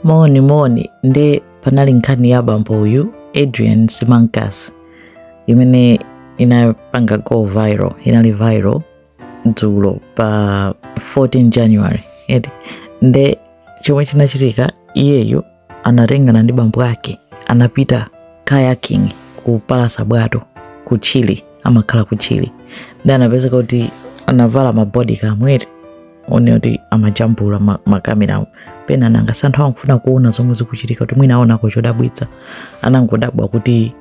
moni moni nde panali nkhani ya bambo uyu adrian simancas imene inapanga go viral inali viral dzulo pa 14 january eti nde chomwe chinachitika iyeyo anatengana ndi bambo ake anapita kayaking kupalasa bwato ku chile amakhala ku chile nde anapezeka kuti anavala mabodycam eti nde kuti amajambula ma- makamerawo pena nanga si anthu akufuna kuona zomwe zikuchitika kuti mwina aonako chodabwitsa anangodabwa kuti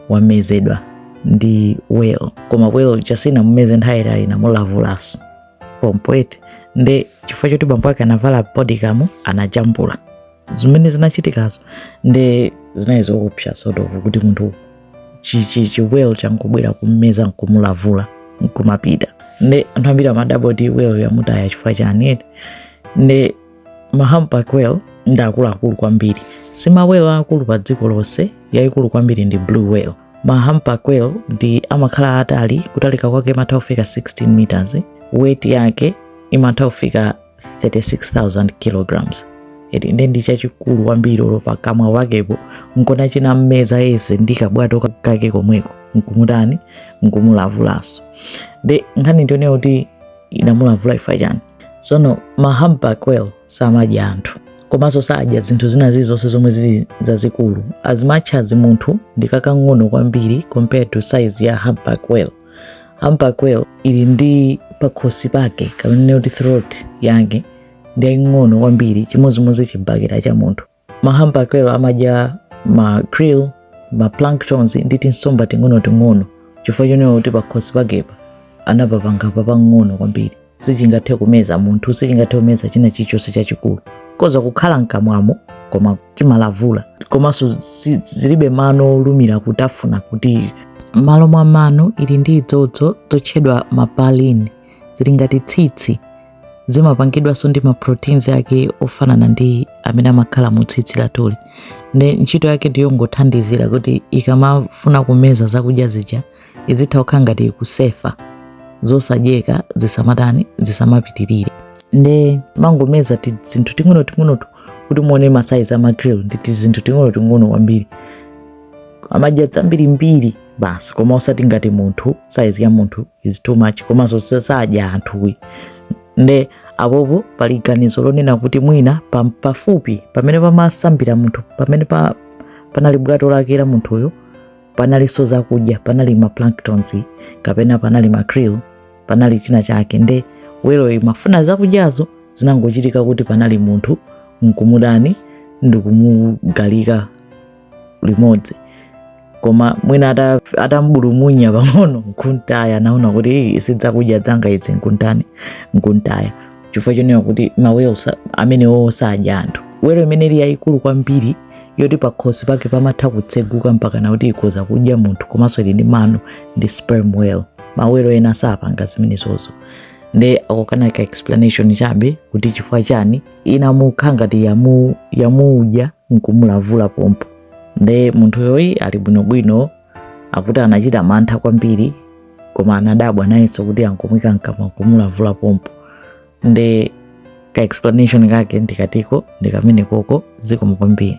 wamezedwa ndi whale koma whale yo sinamumeze nthawi yaitali inamulavulaso pompo eti nde chifukwa choti bambo ake anavala bodycam anajambula zimene zinachitikazo nde zinali zoopsa sort of kuti munthu chichi chiwhale changobwera kummeza nkumulavula nkumapita nde anthu ambiri amadabwa kuti whale yamutaya chifukwa chani eti nde ma humpback whale ndi akuluakulu kwambiri si ma whale aakulu pa dziko lonse yayikulu kwambiri ndi blue whale ma humpback whale ndi amakhala atali kutalika kwake imatha kufika 16 meters weight yake imatha kufika 36,000 kilograms eti nde ndi chachikulu kwambiri olo pakamwa pakepo nkona chinammeza yese ndi kabwato kake komweko nkumutani nkumulavulaso nde nkhani ndi yonena kuti inamulavula chifukwa chani sono ma humpback whale samadya anthu komanso sadya zinthu zina zilizonse zomwe zili zazikulu as much as munthu ndi kakang'ono kwambiri compared to size ya humpback whale humpback whale ili ndi pakhosi pake kapena kuti throat yake ndi yaying'ono kwambiri chimodzimodzi chibakera cha munthu ma humpback whale amadya ma krill ma planktons ndi tinsomba ting'onoting'ono chifukwa chonena kuti pakhosi pakepa anapapanga papang'ono kwambiri sichingathe kumeza munthu sichingathe kumeza china chilichonse chachikulu akhoza kukhala mkamwamo koma chimalavula komanso si- zilibe mano olumira kutafuna kuti m'malo mwa mano ili ndi izozo zotchedwa ma baleen zili ngati tsitsi zimapangidwanso ndi maproteins ake ofanana ndi amene amakhala mu tsitsi lathuli nde ntchito yake ndiyongothandizira kuti ikamafuna kumeza zakudya zija izitha kukhala ngati ikusefa zosadyeka zisamatani zisamapitirire nde imangomeza tizinthu ting'onoting'onotu kuti muone masaizi a ma krill ndi tizinthu ting'onoting'ono kwambiri amadya zambirimbiri basi koma osati ngati munthu saizi ya munthu is too much komanso sadya anthu eti nde apopo pali ganizo lonena kuti mwina pa- pafupi pamene pamasambira munthu pamene pa, panali bwato lake la munthuyo panalinso zakudya panali ma planktons kapena panali ma krill panali china chake nde weloyo imafuna zakudyazo zinangochitika kuti panali munthu nkumutani ndikumukhalika limodzi koma mwina atambulumunya pang'ono nkumtaya anaona kuti sizakudya zanga izi nkumtani nkumtaya chifukwa chonena kuti mawelo amene awowo sadya anthu welo imene ili yayikulu kwambiri yoti pakhosi pake pamatha kutseguka mpaka na kuti ikhoza kudya munthu komanso ili ndi mano ndi sperm whale mawelo ena sapanga zimenezozo nde ako kanali ka explanation chabe kuti chifukwa chani inamukha ngati yamu- yamudya nkumulavula pompo nde munthuyo ali bwinobwino akuti anachita mantha kwambiri koma anadabwa nayenso kuti angomwika mkamwa kumulavula pompo nde ka explanation kake ndikotiko ndikamenekoko zikomo kwambiri